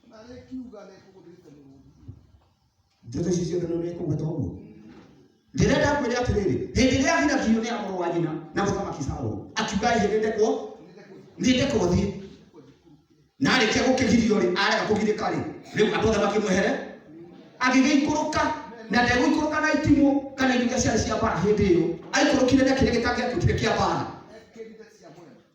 na rä kiuga nä kå gå ndä te må rå njũkĩ ici ciothe nĩ ũrĩkũgweta ũguo ndĩrenda kwĩre atĩrĩrĩ hĩndĩ ĩrĩa athirakirio nĩ amũrũ wa nyina na mũthamaki saũlũ akiuga hĩndĩ ndekwo nĩ ndekwo thiĩ na arĩkia gũkĩgirio rĩ arega kũgirĩka rĩ rĩu andũ othe makĩmwehere agĩgĩikũrũka na ndegũikũrũka na itimũ kana indo iria ciarĩ cia mbara hĩndĩ ĩyo aikũrũkire na kĩrĩa gĩtangĩatuĩkire kĩa mbara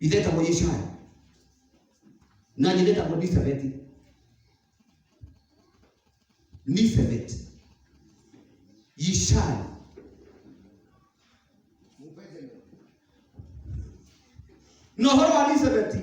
ithe etagwo Yeshaya na nyina etagwo Nisebeti Nisebeti Yeshaya na ũhoro wa Nisebeti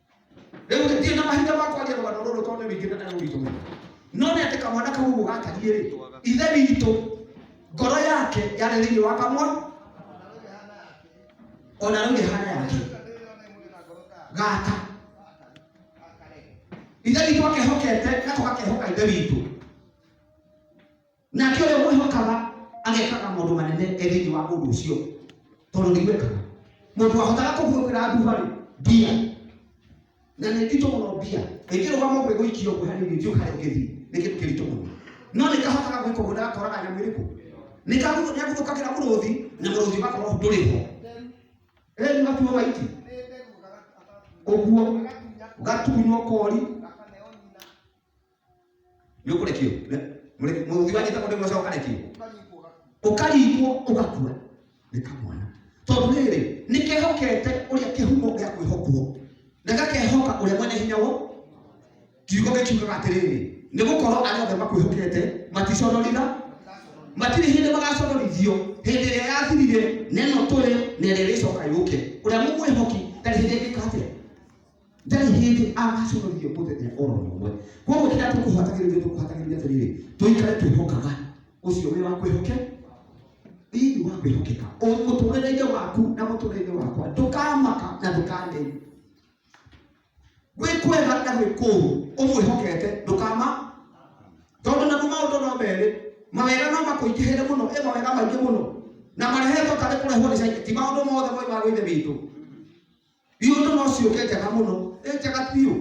rĩu gĩtirĩ na mahinda ma kwaria rũgano rũrũ tondũ nĩ rũingĩ na nĩ rũritũ mũno no nĩ atĩ kamwana kau ũguo gatariĩ rĩ ithe witũ ngoro yake yarĩ thĩinĩ wa kamwa ona rĩu ĩhana yake gata ithe witũ akehokete nako gakehoka ithe witũ nake ũrĩa mwĩhokaga agekaga maũndũ manene e thĩinĩ wa ũndũ ũcio tondũ nĩ gwĩkaga mũndũ wahotaga kũhuokĩra nduharĩ mbia na nĩ nditũ mũno mbia ĩngĩrũgama ũguo ĩgũikio ũguo hanini thiũ harĩa ũngĩthiĩ nĩ kĩndũ kĩritũ mũno no nĩ kahotaga gwĩka ũguo ndagakoraga nyamũ ĩrĩkũ nĩ kaguthũkagĩra mũrũthi na mũrũthi ũgakorwo ndũrĩ ho ĩ nĩ gatuo waiti ũguo gatunywo kori nĩ ũkũrekio mũruthi wa nyita mũndũ ũmwe ũcio ũkarekio ũkarigwo ũgakua nĩ kamwana tondũ rĩrĩ nĩ kehokete ũrĩa kĩhumo gĩa kwĩhokwo na gakehoka ũrĩa mwene hinya wo kiugo gĩkiugaga atĩrĩrĩ nĩ gũkorwo arĩa othe makwĩhokete maticonorira matirĩ hĩndĩ magaconorithio hĩndĩ ĩrĩa yathirire neno tũrĩ na ĩrĩa ĩrĩcoka yũke ũrĩa mũmwĩhoki ndarĩ hĩndĩ ĩngĩka atĩa ndarĩ hĩndĩ agaconorithio mũthenya oro ũmwe koguo kĩrĩa tũkũhatagĩrĩria tũkũhatagĩrĩria atĩrĩrĩ tũikare twĩhokaga ũcio wĩ wa kwĩhoke thĩinĩ wa kwĩhokeka Ũ- mũtũrĩre-inĩ waku na mũtũrĩre-inĩ wakwa ndũkamaka na ndũkaneni gwĩ kwega na gwĩ kũũru ũmwĩhokete ndũkama tondũ naguo maũndũ no merĩ mawega no makũingĩhĩre mũno ĩ mawega maingĩ mũno na marehetwo tarĩ kũrehwo nĩ caitani ti maũndũ mothe moimaga gwĩ ithe witũ iroto no ciũke njega mũno ĩ njega biũ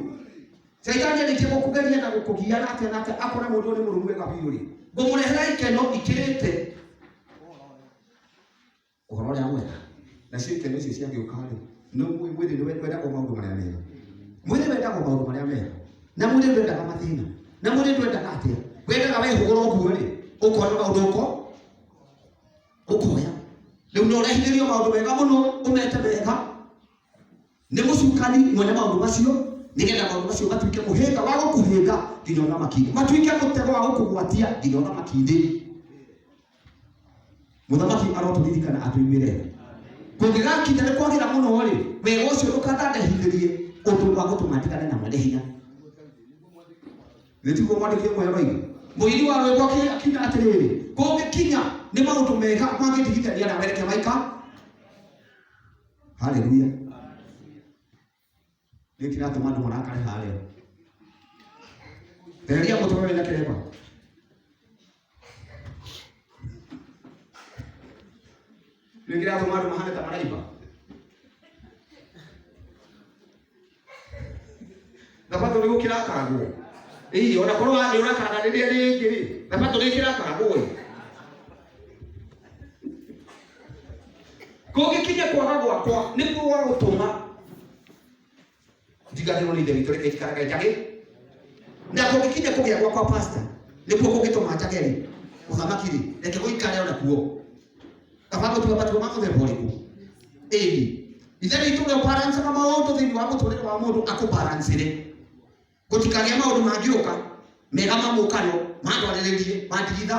caitani arĩkia gũkũgeria na gũkũgia na atĩa na atĩa akona mũndũ ũrĩ mũrũmu wega biũ rĩ ngũmũrehera ikeno ikĩrĩte ũhoro ũrĩa mwega nacio ikeno icio ciagĩũka rĩ no mwĩ- mwĩrĩ nĩ wendagwo maũndũ marĩa mega mwĩrĩ wendagwo maũndũ marĩa mega na mwĩrĩ ndwendaga mathĩna na mwĩrĩ ndwendaga atĩa wendaga wehũgũra ũguo rĩ ũkona maũndũ ũko ũkoya rĩu nĩ ũrehithĩrio maũndũ mega mũno ũmete mega nĩ mũcukani mwene maũndũ macio nĩgetha maũndũ macio matuĩke mũhĩnga wa gũkũhĩnga nginya ũthamaki-inĩ matuĩke mũtego wa gũkũgwatia nginya ũthamaki-inĩ mũthamaki arotũririkana atũiguĩre kũngĩgakinya nĩ kwagĩra mũno rĩ wega ũcio ndũkandandehithĩrie ũndũ wa gũtũma ndigane na mwene hinya nĩtiguo mwandĩki ũmwe oraire mũini wa rwĩmbo akĩ- akiuga atĩrĩrĩ kũngĩkinya nĩ maũndũ mega mangĩndigithania na mereke maika haleluya nĩ kĩratũma andũ marakare harĩa eheria mũtwe wĩna kĩremba Rĩu kĩratũma andũ mahane ta maraiba. Thabatũ nĩ gũkĩrakaragwo. Ĩĩ, ona korwo wa- nĩ ũrakaraga rĩrĩa rĩngĩ rĩ, thabatũ nĩ ĩkĩrakaragwo ĩ. Kũngĩkinya kwaga gwakwa nĩkuo gwa gũtũma njiganĩrwo nĩ ithe witũ reke njikara kaĩ njagĩ na kũngĩkinya kũgĩa gwakwa pasta nĩkuo kũngĩtũma njage rĩ ũthamaki rĩ reke gũikare ona kuo kaba gũtua matua ma mũthemba ũrĩkũ ĩni ithe witũ ũrĩa ũbarancaga maũndũ thĩinĩ wa mũtũrĩre wa mũndũ akũbarancĩre gũtikagĩa maũndũ mangĩũka mega mamũkano mandwarĩrĩrie mandigitha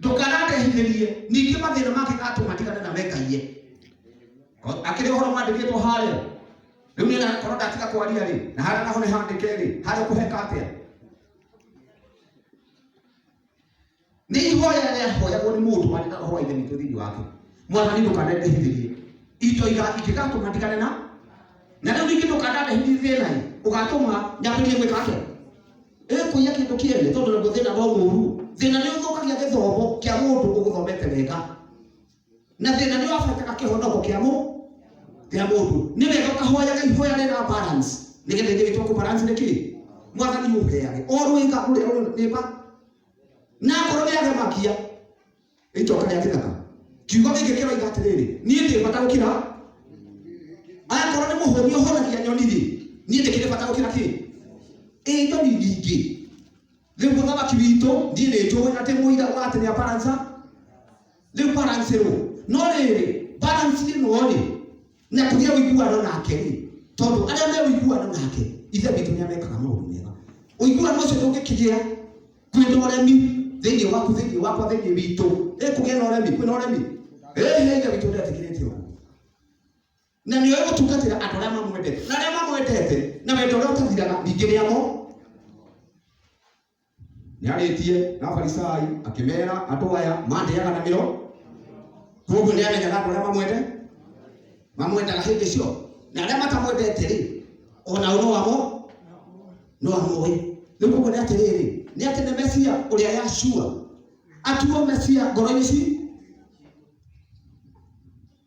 ndũkanatehithĩrie ningĩ mathĩna make atũ matigane na we ngai ye akĩrĩ ũhoro mwandĩkĩtwo harĩa rĩu nĩ nakorwo ndatiga kwaria rĩ na harĩa naho nĩ handĩke rĩ harĩa kũheka atĩa nĩ ihoya rĩahoyagwo nĩ mũndũ warĩ na roho wa ithe witũ thĩinĩ wake mwathani ndũkanendehithĩrie itoiga ingĩgatũma ndigane na na rĩu ningĩ ndũkanande hihi thĩna-ĩ ũgatũma nyambĩrĩrie gwĩka atĩa ĩ kũiya kĩndũ kĩene tondũ naguo thĩna no mũru thĩna nĩ ũthũkagia gĩthomo kĩa mũndũ ũgũthomete wega na thĩna nĩ wabaitaga kĩhonoko kĩa mũ kĩa mũndũ nĩ wega ũkahoyaga ihoya rĩra balance nĩgetha ithe witũ kũ balance nĩ kĩĩ mwathani ũheage o rwĩga rũrĩa rũrĩ nĩba na ngoro nĩ agemakia Gĩcoka gĩa kĩthaka. Kiugo gĩkĩ kĩroiga atĩrĩrĩ, niĩ ndĩ bata gũkĩra aya korwo nĩ mũhũri ũhũragia nyoni rĩ, niĩ ndĩkĩrĩ bata gũkĩra kĩ? Ĩ nyoni nyingĩ. Rĩu mũthamaki witũ niĩ nĩ njũĩ atĩ mũira wa atĩ nĩ aparanca rĩu barancerwo. No rĩrĩ, balance ĩno rĩ, na tũgĩe ũiguano nake rĩ tondũ arĩa me ũiguano nake ithe witũ nĩ amekaga maũndũ mega ũiguano ũcio ndũngĩkĩgĩa kwĩna ũremi thĩinĩ waku thĩinĩ wakwa thĩinĩ witũ ĩ kũgĩa na ũremi kwĩna ũremi ĩhĩ ithe witũ ndetĩkĩrĩtie ũguo na nĩ oĩ gũtungatĩra andũ arĩa mamwendete na arĩa mamwendete na wendo ũrĩa ũtathiraga ningĩ nĩ amo nĩarĩtie na farisai akĩmera andũ aya mandĩaga na mĩro koguo nĩamenyaga andũ arĩa mamwende mamwendaga hĩndĩ cio na arĩa matamwendete rĩ ona ũno wamo no amũĩ rĩu koguo nĩ atĩrĩrĩ nĩ atĩ nĩ mesia ũrĩa yacua atuo mesia ngoro-inĩ ci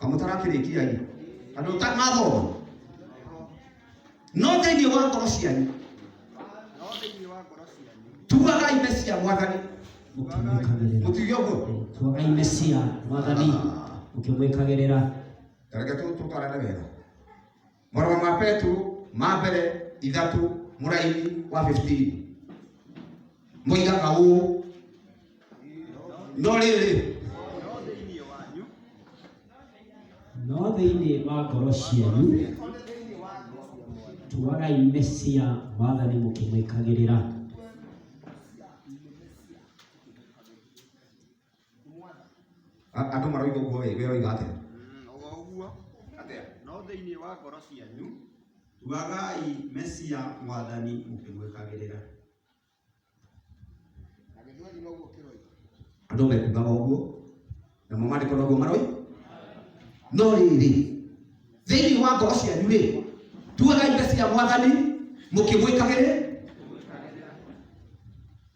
kamũtarakĩrĩkia ĩ andũ ũtanathoma no thĩinĩ wa ngoro cianyu no thĩinĩ wa ngoro cianyu tuaga ime cia mwathani mũkĩmwĩkagĩrĩra mũtige ũguo tuaga ime cia mwathani mũkĩmwĩkagĩrĩra reke tũtwarane wega Marũa ma Petero ma mbere ithatũ mũraini wa 15 moigaga ũũ no rĩrĩ no thĩinĩ wa ngoro cianyu tuagai mesia mwathani mũkĩmwĩkagĩrĩra A- andũ maroiga ũguo wĩ we ũroiga atĩa Mm, o ũguo atĩa no thĩinĩ wa ngoro cianyu tuagai mesia mwathani mũkĩmwĩkagĩrĩra na gĩthweri noguo kĩroiga andũ mekugaga ũguo namo maandĩko noguo maroi no rĩrĩ thĩinĩ wa ngoro cianyu rĩ tuagai mesia mwathani mũkĩmwĩkagĩrĩra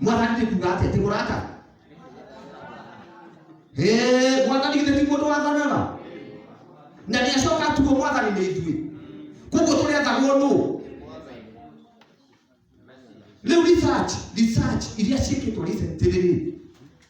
mwathani nĩ kuga atĩa ti mũrata Eh, mwathani githĩ ti mũndũ wathanaga na nĩ acoka tuo mwathani nĩ ithuĩ koguo tũrĩ athagwo nũ rĩu research research iria ciĩkĩtwo recently rĩ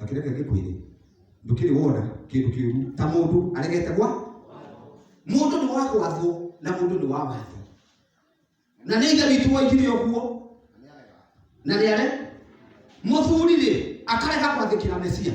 akĩreke gĩkwĩrĩ ndũkĩrĩ wona kĩndũ kĩũru ta mũndũ aregete gwa mũndũ nĩ wa gwathwo na mũndũ nĩ wa watho na nĩ ithe witũ waigire ũguo na nĩ are mũthuri-rĩ akarega gwathĩkĩra mesia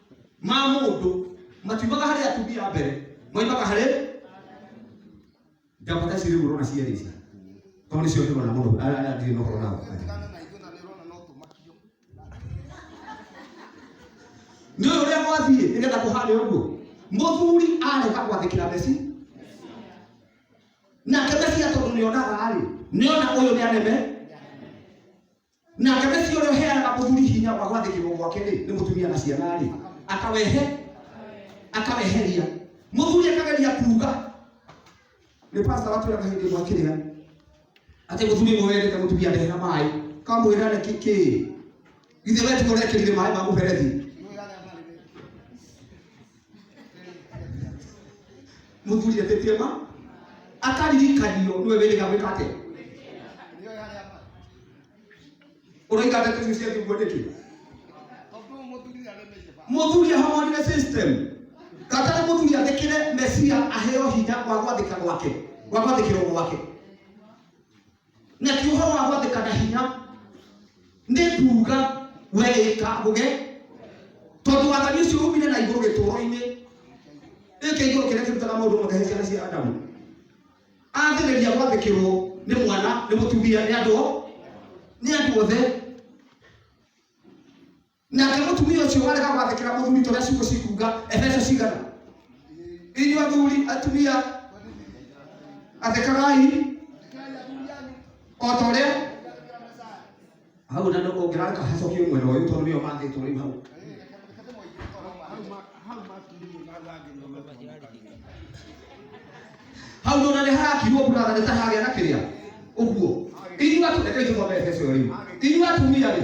ma mũndũ matiumaga harĩ atumia a mbere moimaga harĩ njambata ici rĩu ũrona cierĩ ici tondũ nĩcio ndĩrona mũno arĩa arĩa ndirĩ na ũhoro nao Tigana na ithuĩ na nĩ ũrona no tũmakio. nĩ ũyũ ũrĩa gwathiĩ nĩgetha kũharĩ ũguo mũthuri areka gwathĩkĩra mesi nake mesia tondũ nĩonaga rĩ nĩona ũyũ nĩaneme nake mesi ũrĩa ũheanaga mũthuri hinya wa gwathĩkĩrwo gwake rĩ nĩ mũtumia na ciana rĩ akawehe akaweheria mũthuri akageria kuuga nĩ pasta watwĩraga hĩndĩ ĩmwe kĩrĩa atĩ mũthuri ũmwe werĩte mũtumia ndehera maĩ kamwĩra nĩ kĩkĩ githĩ we tiga ũrekĩrire maĩ ma mũberethi mũthuria tĩtie ma akaririkanio nĩwe wĩrĩga gwĩka atĩa ũraiga ndeto icio cia kiugo nĩkĩ mũthuri ahonire system katari mũthuri athĩkĩre mesia aheo hinya wa gwathĩka gwake wa gwathĩkĩrwo gwake na ti ũhoro wa gwathĩka na hinya nĩ kuuga weĩka gũge tondũ wathani ũcio umire na igũrũ gĩtũũro-inĩ gĩkĩ igũrũ kĩrĩa kĩrutaga maũndũ mothe he ciana cia adamu athĩrĩria gwathĩkĩrwo nĩ mwana nĩ mũtumia nĩ andũ o- nĩ andũ othe Nake mũtumia ũcio warega gwathĩkĩra mũthuri tũrĩa ciugo cikuga Efeso cigana. Inyuĩ athuri atumia athĩkagai o ta ũrĩa hau na ndũ ũngĩrareka hacokio mwena ũyũ tondũ nĩo mathĩtwo rĩu hau hau nĩ ona nĩ harakirwo mbura na nĩ ta hagĩa na kĩrĩa ũguo inyuĩ atu- rekei tũthome Efeso ĩyo rĩu inyuĩ atumia rĩ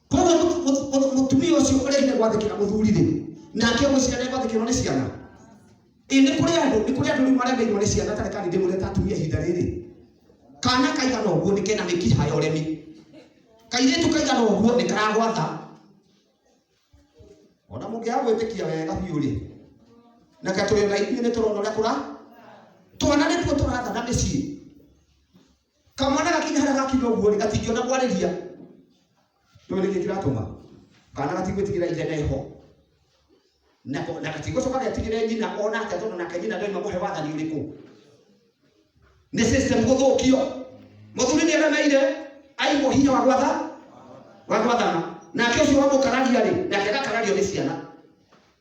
koguo mũtu- mũtu- mũtu- mũtumia ũcio ũrehire gwathĩkĩra mũthuri-rĩ nake ũgwĩciria nĩ gwathĩkĩrwo nĩ ciana ĩ nĩ kũrĩ andũ nĩ kũrĩ andũ rĩu maremeirwo nĩ ciana tarĩ kandi ndĩmũreta atumia ihinda rĩrĩ kana kaigana ũguo nĩ kena mĩkiha ya ũremi kairĩtu kaigana ũguo nĩ karagwatha ona mũngĩaga gwĩtĩkia wega biũ rĩ na katũrĩ na ithuĩ nĩ tũrona ũrĩa kũra twana nĩtuo tũratha na mĩciĩ kamwana gakinya harĩa gakinya ũguo rĩ gatingĩona kwarĩria nĩwe nĩkĩ kĩratũma kana gatigwĩtigĩra ithe neho na ko- na gatigũcoka getigĩre nyina ona atĩa tondũ nake nyina ndoima mũhe wathani ũrĩkũ nĩ system gũthũkio mũthuri nĩ aremeire aigwo hinya wa gwatha wa gwathana nake ũcio wamũkararia rĩ nake agakarario nĩ ciana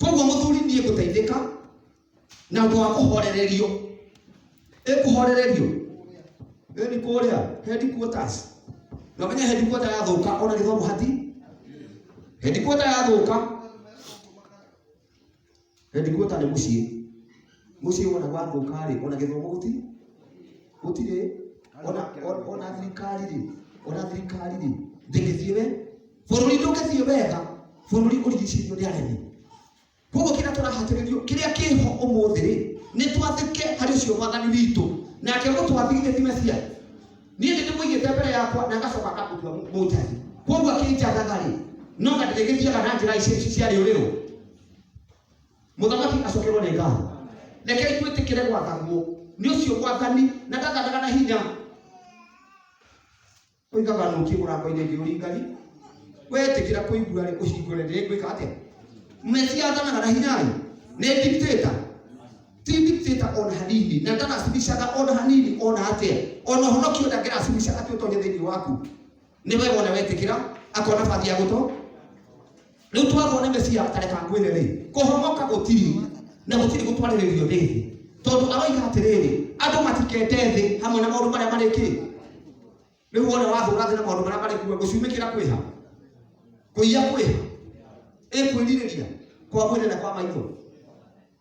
koguo mũthuri niĩ ngũteithĩka na ũndũ wa kũhorererio ĩkũhorererio ĩni kũrĩa headquarters na menye headquarter yathũka ona gĩthomo hati headquarter yathũka headquarter nĩ mũciĩ Mũciĩ wona gwathũka-rĩ, ona gĩthomo gũti gũtirĩ ona ona- ona thirikari-rĩ, ona thirikari-rĩ, ndĩgĩthiĩ we bũrũri ndũgĩthiĩ wega, bũrũri ũrigicĩirio nĩ aremi. Koguo kĩrĩa tũrahatĩrĩrio, kĩrĩa kĩho ũmũthĩ-rĩ, nĩ twathĩke harĩ ũcio mwathani witũ, nake gũtwathigithia ti Mesia. Niĩ nĩ ndĩmũigĩte mbere yakwa na ngacoka ngakũtua mũ- mũnjathi. Koguo akĩnjathaga-rĩ, no na ndĩrĩgĩthiaga na njĩra ici ici cia rĩũrĩrũ. mũthamaki acokerwo nĩ ngatho rekei twĩtĩkĩre gwathagwo nĩ ũcio mwathani na ndathanaga na hinya oigaga nũkie mũrango-inĩ ngĩ ũringari wetĩkĩra kũigua rĩ ũhingũre rĩ gwĩka atĩa mesia athanaga na hinya rĩ nĩ dictator ti dictator ona hanini na ndaracibicaga ona hanini ona atĩa ona ũhonokio ndangĩracibica atĩ ũtonye thĩinĩ waku nĩ wega ona wetĩkĩra akona bati ya gũtũ rĩu twarwo nĩ mesia tareka ngwĩre rĩ kũhonoka gũtirĩ na gũtirĩ gũtwarĩrĩrio thĩ thĩ tondũ aroiga atĩrĩrĩ andũ matikete thĩ hamwe na maũndũ marĩa marĩ kĩ rĩu wona wathũra thĩ na maũndũ marĩa marĩ kuo gũcumĩkĩra kwĩha kũiya kwĩha ĩkwĩrirĩria kwa mwĩrĩ na kwa maitho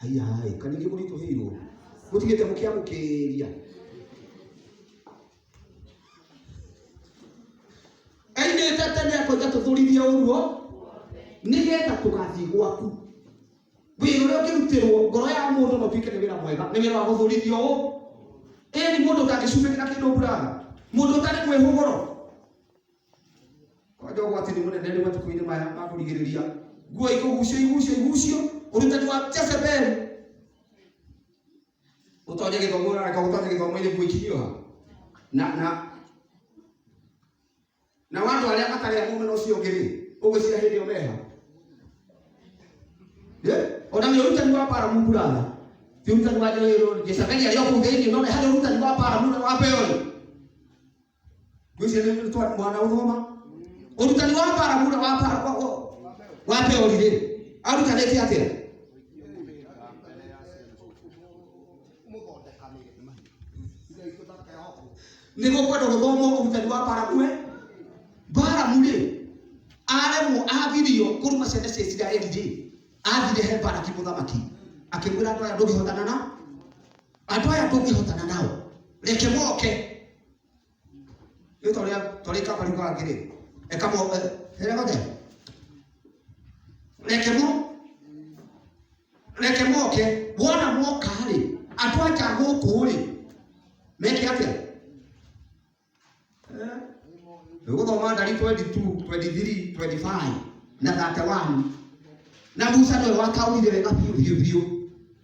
haiya haĩ kana ingĩ mũritũhĩirwo mũtigĩte mũkĩamũkĩria aimĩte tene akoiga tũthũrithie ũguo nĩgetha tũgathiĩ gwaku wĩra ũrĩa ũngĩrutĩrwo ngoro ya mũndũ no tuĩke nĩ wĩra mwega nĩ wĩra wa gũthũrithio ũũ ĩni mũndũ ũtangĩcumĩkĩra kĩndũ mbura mũndũ ũtarĩ mwĩhũgũro kwanja ũgwati nĩ mũnene rĩ matukũ-inĩ maya ma kũrigĩrĩria nguo ikũgucio igucio igucio ũrutani wa Jezebeli ũtonye gĩthomo ũrareka ũtonye gĩthomo-inĩ nguo ikinyioha na na na wandũ arĩa matarĩ a mũmena ũcio ũngĩ rĩ ũgwĩciria hĩndĩ ĩyo meha Eh? ona nĩ ũrutani wa bara mungu ratha ti ũrutani wa Jezebeli Jezebeli arĩ o kũu thĩinĩ no nĩ harĩ ũrutani wa bara mungu wa Beoli Ndũcio nĩ nĩ twa- mwana ũthoma ũrutani wa barabura wa bara wa- wa- wa theori rĩ arutanĩte atĩa nĩ gũkwenda gũthomwo ũrutani wa baramue baramu rĩ aremwo agirio kũruma ciana cia isiraeli rĩ athire he baraki mũthamaki akĩmwĩra andũ aya ndũngĩhotana na andũ aya ndũngĩhotana nao reke moke Rĩu tũrĩa tũrĩa kaba rĩu kangĩ rĩ. Eka mo hera gothe. Reke mo reke moke wona moka rĩ andũ aja gũkũ rĩ meke atĩa? Eh? Ũgũthoma ndari 22, 23, 25 na 31 na Musa nĩwe wataũrire wega biũ biũ biũ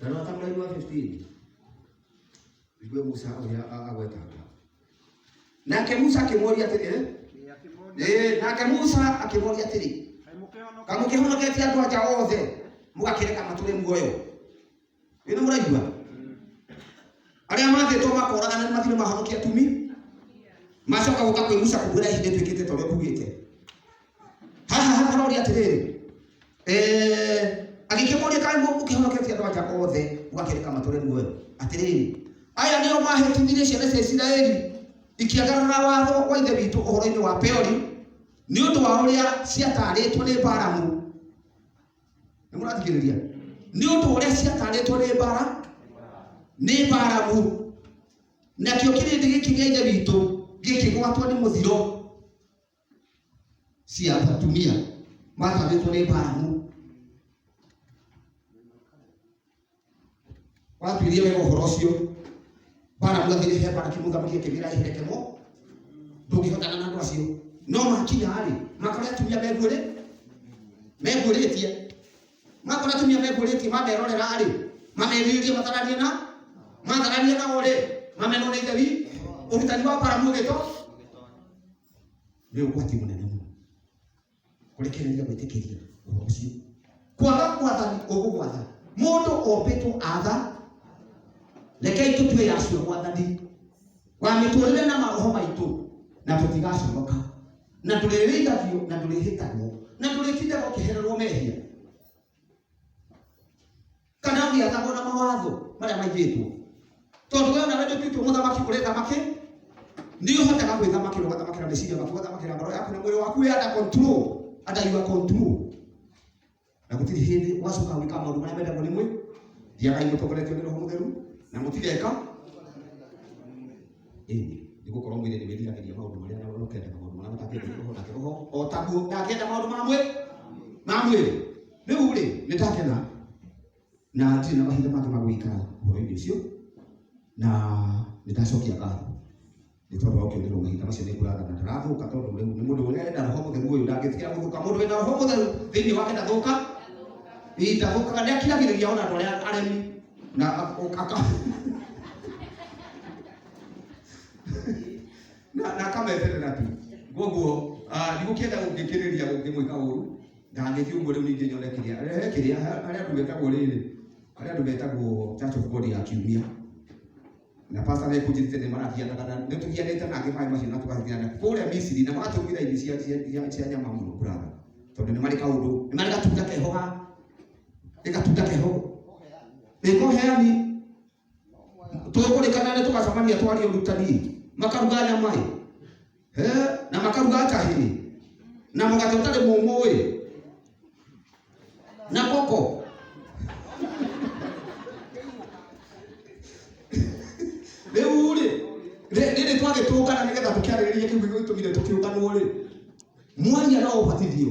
Na no ta mũraigua 15 igue Musa ũrĩa a- agweta hau. nake Musa akĩmũria atĩrĩ "Eh?" Ĩ, akĩmoria, Eh, nake Musa akĩmũria atĩrĩ "Kaĩ mũkĩhonoka?" kaĩ mũkĩhonoketie andũ anja othe mũgakĩreka matũre muoyo wĩna mũraigua arĩa mathĩtwo makoragana nĩ mathirĩ mahonokia tumi macoka gũka kwĩ Musa kũmwĩra ihinda ĩtuĩkĩte ta ũrĩa kugĩte haha hakaroria atĩrĩrĩ eh, agĩkĩmoria kana nĩguo ũkĩhonoketie andũ anja othe ũgakĩreka matũre muoyo atĩrĩrĩ aya nĩo mahĩtithirie ciana cia isiraeli ikĩagarara watho wa ithe witũ ũhoro-inĩ wa peori nĩ ũndũ wa ũrĩa ciatarĩtwo nĩ baramu nĩ mũrathikĩrĩria nĩ ũndũ wa ũrĩa ciatarĩtwo nĩ bara nĩ baramu nakĩo kĩrĩndĩ gĩkĩ gĩa ithe witũ gĩkĩgwatwo nĩ mũthiro si atatumia matarĩtwo nĩ mbaramũ watuirie wega ũhoro ũcio baramu athire he baraki mũthamaki akĩmĩra eherekemo ndũngĩhotana na andũ acio no makinya rĩ makore atumia meguĩrĩ meguĩrĩtie makore atumia meguĩrĩtie mamerorera rĩ mamerirĩrie mataranie na mataranie nao rĩ mamenwo nĩ ithe wi ũrutani wa baramu ũgĩto nĩ ũgwati mũnene mũno kũrekereria gwĩtĩkĩria ũhoro ũcio kwaga gwathani ũgũgwatha mũndũ ombĩtwo atha rekei tũtue yacio gwathani wa mĩtũrĩre na maroho maitũ na tũtigaconoka na ndũrĩrĩithagio na ndũrĩhĩtagwo na ndũrĩtindaga ũkĩhererwo mehia Kana ũgĩathagwo na mawatho marĩa maigĩtwo? Tondũ we onawe ndũtuĩtwo mũthamaki ũrĩ thamaki, nĩ ũhotaga gwĩthamakĩra, ũgathamakĩra meciria maku, ũgathamakĩra ngoro yaku na mwĩrĩ waku wĩ under control, under your control. Na gũtirĩ hĩndĩ ũgacoka gwĩka maũndũ marĩa mendagwo nĩ mwĩ, thiagai mũtongoretio nĩ Roho Mũtheru na mũtigeka ĩĩ nĩ gũkorwo mwĩrĩ nĩ wĩriragĩria maũndũ marĩa na ũkendaga maũndũ marĩa matakĩenda roho nake roho o taguo ndakenda maũndũ ma mwĩ ma mwĩrĩ rĩu rĩ nĩ ndakena na ndirĩ na mahinda mangĩ ma gũikara ũhoro-inĩ ũcio na nĩ ndacokia ngatho nĩ tondũ wa ũkĩonĩrwo mahinda macio nĩ ngũraga na ndarathũka tondũ rĩu nĩ mũndũ ũrĩa enda roho mũtheru ũyũ ndangĩtiga gũthũka mũndũ wĩna roho mũtheru thĩinĩ wake ndathũka Ii, ndathũkaga nĩ akiragĩrĩria ona andũ arĩa aremi na ak- ok- aka na na akameterera tu koguo ndigũkĩenda gũngĩkĩrĩria gũkĩmwĩka ũru ndangĩthiĩ ũguo rĩu ningĩ nyone kĩrĩa rehe kĩrĩa ha- harĩa andũ metagwo rĩrĩ harĩa andũ metagwo church of god ya kiumia na pastor nĩ kũnjĩtĩte nĩ marathianaga na nĩ tũhianĩte na angĩ maĩ macio na tũgathiana kũrĩa misiri na magatũmĩra irio cia- cia- cia- cia nyama mũno kũratha tondũ nĩ marĩ kaũndũ nĩ marĩ gatunda keho ga nĩ gatunda keho nĩkoheani tũkũrĩkana nĩ tũgacamania twaria ũrutani makaruga nyama ĩ Eh, na makaruga njahĩ ĩ na mũgate ũtarĩ mũmũ ĩ na koko rĩu rĩ rĩ- rĩrĩ twagĩtũngana nĩgetha tũkĩarĩrĩrie kĩu gĩgĩtũmire tũkĩũnganwo rĩ mwaria no ũbatithio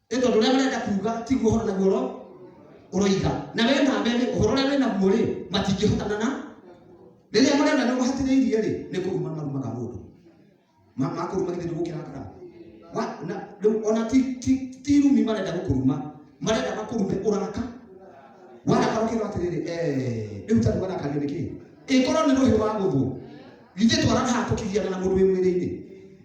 nĩ tondũ ũrĩa marenda kuuga tiguo ũhoro naguo ũro ũroiga na we na mbere ũhoro ũrĩa wĩnaguo rĩ matingĩhotana na rĩrĩa marenda nĩ mahatĩrĩirie rĩ nĩ kũruma marumaga mũndũ Ma- makũruma githĩ ndũgũkĩrakara Wa- na- rĩu ona ti- ti- ti rumi marenda gũkũruma marenda makũrume ũraka warakara ũkiuga atĩrĩrĩ "Eh, rĩu tarĩ warakario nĩkĩ ĩkorwo nĩ rũhĩ wa gũthwo githĩ twaraga haha tũkĩgiana na mũndũ wĩ mwĩrĩ-inĩ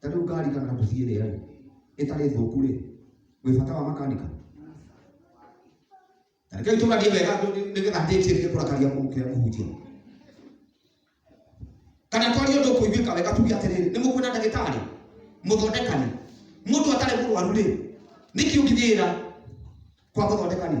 ta rĩu ngari kana mũciĩ ĩrĩa rĩ ĩtarĩ thũku rĩ wĩ bata wa makanika na reke tũgarie wega nĩ- nĩgetha ndĩtie nĩ kũrakaria kũrĩa kũhunjia kana twarie ũndũ kũiguĩka wega tuge atĩrĩrĩ nĩ mũkwĩna ndagĩtarĩ mũthondekani mũndũ atarĩ mũrwaru rĩ nĩkĩ ũngĩthiĩra kwa mũthondekani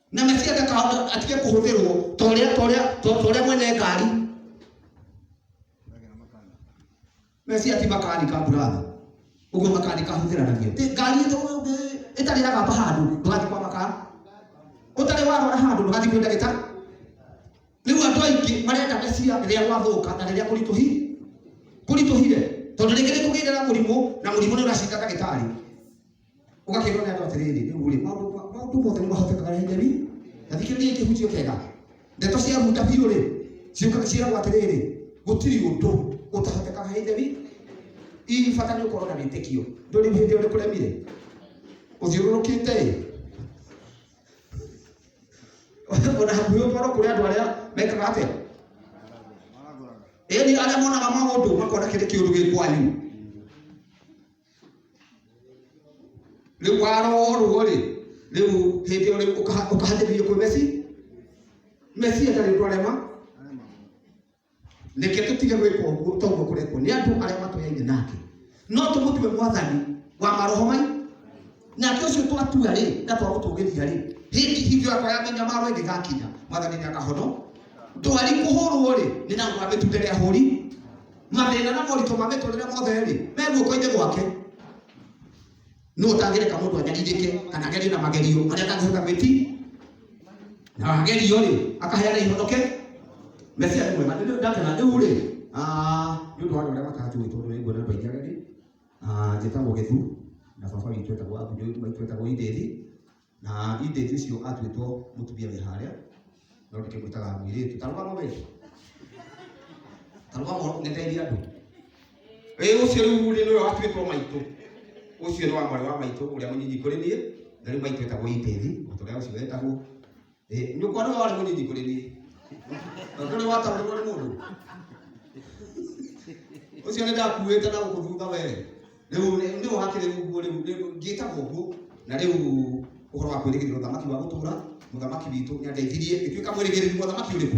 na mesia ndakahota atige kũhũthĩrwo ta ũrĩa ta ũrĩa ta ta ũrĩa mwene ngari mesia ti makanika burathi ũguo makanika hũthĩranagia Ĩ, ngari ĩtũ- ĩ- ĩtarĩ ya gamba handũ ndũgathiĩ kwa makara ũtarĩ warwara handũ ndũgathiĩ kwĩ ndagĩtarĩ rĩu andũ aingĩ marenda mesia rĩrĩa gwathũka na rĩrĩa kũritũhi kũritũhire tondũ rĩngĩ nĩ kũgĩire na mũrimũ na mũrimũ nĩ ũracinda ndagĩtarĩ ũgakĩrwo nĩ andũ atĩrĩrĩ rĩu rĩ maũndũ ma- maũndũ mothe nĩ mahotekaga rĩrĩa njeri na thikĩrĩria kĩhunjio kega ndeto cia hunda biũ rĩ ciũkaga ciĩragwo atĩrĩrĩ gũtirĩ ũndũ ũtahotekaga he njeri ii bata nĩ ũkorwo na wĩtĩkio ndũrĩ hĩndĩ ũrĩ kũremire ũthiũrũrũkĩte ĩ ona hakuhĩ ũkorwo kũrĩ andũ arĩa mekaga atĩa ĩni arĩa monaga maũndũ makona kĩrĩ kĩũndũ gĩ kwanyu rĩu warorwo rĩ rĩu hĩndĩ ĩyo rĩu ũkaha- ũkahatĩrĩrio kwĩ mesi mesia ndarĩ ũndũ arema reke tũtige gwĩka ũguo toguo kũrekwo nĩ andũ arĩa matũyaine nake no tũmũtue mwathani wa maroho mai nake ũcio twatua rĩ na twagũtũgĩria rĩ hĩndĩ hingo yakwa ya mĩnyamaro ĩngĩgakinya mwathani nĩ akahono ndwari kũhũrwo rĩ nĩ na ngwa mĩtunda rĩa hũri mathĩna na moritũ ma mĩtũrĩre mothe-rĩ me guoko-inĩ gwake no ũtangĩreka mũndũ anyarirĩke kana agerio na magerio marĩa atangĩhota gwĩti na agerio rĩ akaheana ihonoke mesia nĩ mwega Rĩu ndatena rĩu rĩ ah, nĩ ũndũ wa andũ arĩa matanjũĩ tondũ nĩ nguona andũ aingĩ ageni Ah, njĩtagwo gĩthu na baba witũ etagwo abu maitũ etagwo ithĩthi na irĩtu icio atuĩtwo mũtumia wĩ harĩa no ndĩkĩmwĩtaga mũirĩtu tarũgama we tarũgama ngeteithia andũ ĩ ũcio rĩu rĩ nĩwe watuĩtwo maitũ ũcio nĩ wa mwarĩ wa maitũ ũrĩa mũnyinyi kũrĩ niĩ na rĩu maitũ etagwo itĩthi mũtũrĩa ũcio wetagwo Eh, nyũkwa nĩwe warĩ mũnyinyi kũrĩ niĩ na ndũrĩ wataũrirwo nĩ mũndũ ũcio nĩ ndakuĩte na gũkũ thutha we rĩu nĩ- nĩ ũhakĩrĩ ũguo rĩu rĩu- ngĩtagwo ũguo na rĩu ũhoro wa kwĩrĩgĩrĩra ũthamaki wa gũtũra mũthamaki witũ nĩ andeithirie ngĩtuĩka mwĩrĩgĩrĩri mũthamaki ũrĩkũ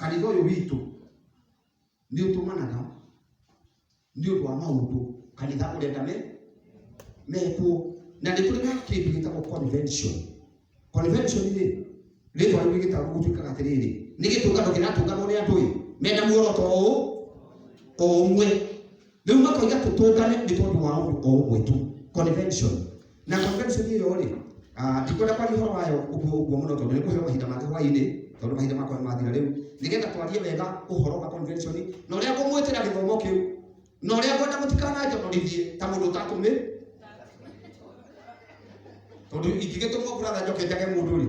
kanitha ũyũ witũ nĩ ũtũmanaga nĩ ũndũ wa maũndũ kanitha ũrenda me mekwo na nĩ kũrĩ na kĩndũ gĩtagwo convention convention rĩ rĩtwa rĩu rĩgĩtagwo gũtuĩkaga atĩrĩrĩ nĩ gĩtũngano kĩratũnganwo nĩ andũ ĩ mena muoroto ũũ o ũmwe rĩu makoiga tũtũngane nĩ tondũ wa ũndũ o ũmwe tu convention na convention ĩyo rĩ ah, ndikwenda kwaria ũhoro wayo ũguo ũguo mũno tondũ nĩ kũheo mahinda mangĩ hwainĩ tondũ mahinda makwa nĩmathira rĩu nĩgetha twarie wega ũhoro wa convention na ũrĩa ngũmwĩtĩra gĩthomo kĩu na ũrĩa ngwenda mũtikananjonorithie ta mũndũ ũtatũmĩ tondũ ingĩgĩtũmwo kũratha njoke njage mũndũ rĩ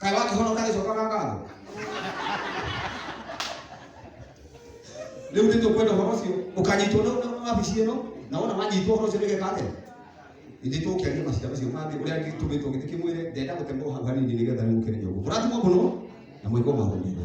kaĩ wakĩhonoka gĩcoka ga ngatho rĩu nĩtũ kwenda ũhoro ũcio ũkanyitwo na na wabici ĩno na wona wanyitwo ũhoro ũcio nĩgeka atĩa ithe tũkĩaria maciira macio mangĩ ũrĩa ngĩtũmĩtwo gĩtĩ kĩmwĩre ndenda gũtemwo hau hanini nĩgetha rĩu ũkĩrĩ nyũngũ mũrathimwo mũno na mwĩkwo maũndũ